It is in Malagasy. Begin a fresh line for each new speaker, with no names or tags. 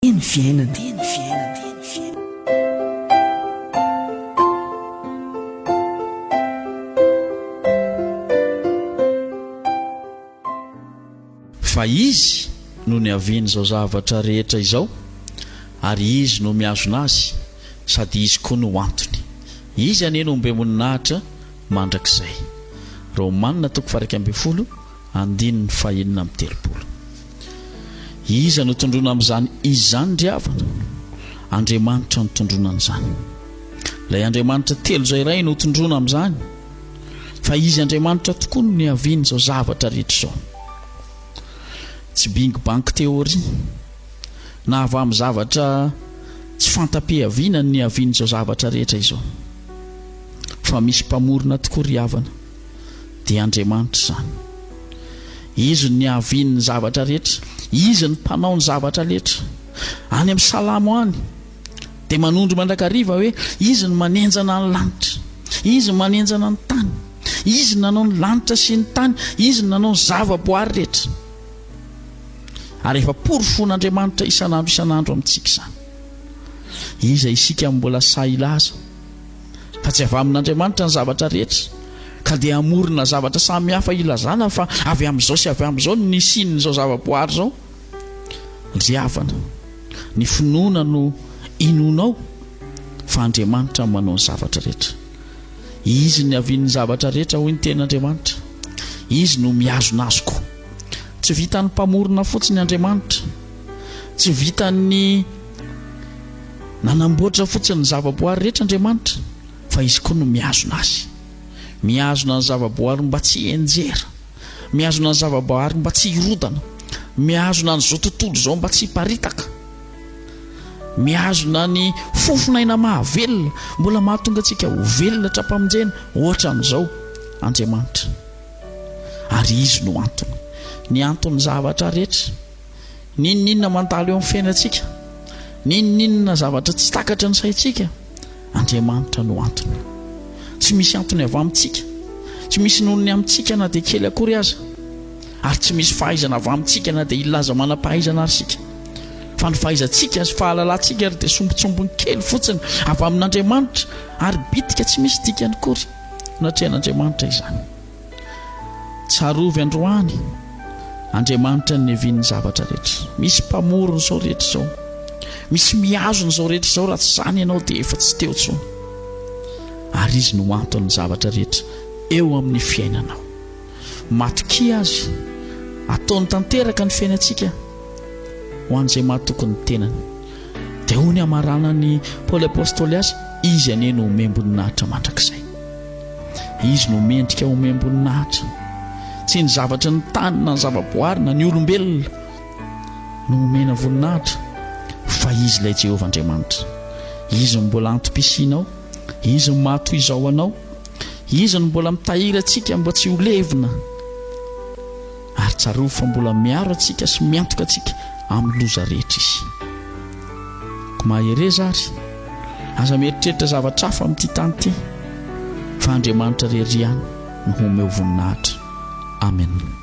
Teny fiainana. Teny fiainana. Teny
fiainana. Fa Izy no niavian'izao zavatra rehetra izao, ary Izy no mihazona azy, sady Izy koa no antony. Izy anie no ombiam-boninahitra mandrakizay. Romana toko faha iraika ambin'ny folo. Andininy fahenina amby telopolo. Iza no tondroina amin'izany izy izany ry havana? Andriamanitra no tondroina an'izany. Ilay Andriamanitra telo izay iray no tondroina amin'izany, fa Izy Andriamanitra tokoa no niavian'izao zavatra rehetra izao. Tsy Bing Bang Theory, na avy amin'ny zavatra tsy fanta-piaviana ny niavian'izao zavatra rehetra izao. Fa misy Mpamorona tokoa ry havana. dia Andriamanitra izany. Izy no niavian' ny zavatra rehetra, Izy no mpanao ny zavatra letra. Any amin'ny Salamo any dia manondro mandrakariva hoe Izy no manenjana ny lanitra, Izy no manenjana ny tany, Izy no nanao ny lanitra sy ny tany, Izy no nanao ny zava-boary rehetra. Ary efa porofon'Andriamanitra isan'andro isan'andro amintsika izany. Iza isika no mbola sahy hilaza? Fa tsy avy amin'Andriamanitra ny zavatra rehetra, ka dia hamorona zavatra samy hafa hilazana fa avy amin'izao sy avy amin'izao no nisian'izao zava-boahary izao. Ry havana, ny finoana no inoanao fa Andriamanitra no manao ny zavatra rehetra. Izy no niavian'ny zavatra rehetra, hoy ny Tenin'Andriamanitra. Izy no mihazona azy koa. Tsy vitan'ny Mpamorona fotsiny Andriamanitra. Tsy vitan'ny. Nanamboatra fotsiny ny zavaboary rehetra Andriamanitra, fa Izy koa no mihazona azy. Mihazona ny zavaboary mba tsy hihenjera. Mihazona ny zavaboary mba tsy hirodana. Mihazona an'izao tontolo izao mba tsy hiparitaka. Mihazona ny fofon'aina mahavelona, mbola mahatonga antsika ho velona hatrampamonjena, ohatra amin'izao, Andriamanitra. Ary Izy no antony. Ny anton'ny zavatra rehetra. N'inon'inona mandalo eo amin'ny fiainantsika, n'inon'inona zavatra tsy takatry ny saintsika, Andriamanitra no antony. Tsy misy antony avy amintsika, tsy misy nonony amintsika na dia kely akory aza, ary tsy misy fahaizana avy amintsika na dia hilaza manam-pahaizana aza isika. Fa ny fahaizantsika sy fahalalantsika ary dia sombintsombiny kely fotsiny avy amin'Andriamanitra ary bitika tsy misy dikany akory. Natrehan'Andriamanitra izany. Tsarovy androany, Andriamanitra ninevian'ny zavatra rehetra. Misy mpamorona izao rehetra izao. Misy mihazona izao rehetra izao, raha tsy izany ianao dia efa tsy teo intsony. Ary Izy no anton'ny zavatra rehetra eo amin'ny fiainanao. Matokia Azy, ataony tanteraka ny fiainantsika ho an'izay mahatoky ny tenany. dia hoy ny hamaranan'i Paoly Apostoly azy, Izy anie no omem-boninahitra mandrakizay. Izy no mendrika omem-boninahitra. Tsy ny zavatry ny tany na ny zavaboary na ny olombelona no omena voninahitra, fa Izy ilay Jehovah Andriamanitra. Izy no mbola antom-pisianao, Izy no maha toy izao anao, Izy no mbola mitahiry antsika mba tsy ho levona. Ary tsarovy fa mbola miaro antsika sy miantoka antsika amin'ny loza rehetra Izy. Koa mahereza àry. Aza mieritreritra zavatra hafa amin'ity tany ity, fa Andriamanitra irery ihany no homeo voninahitra. Amena.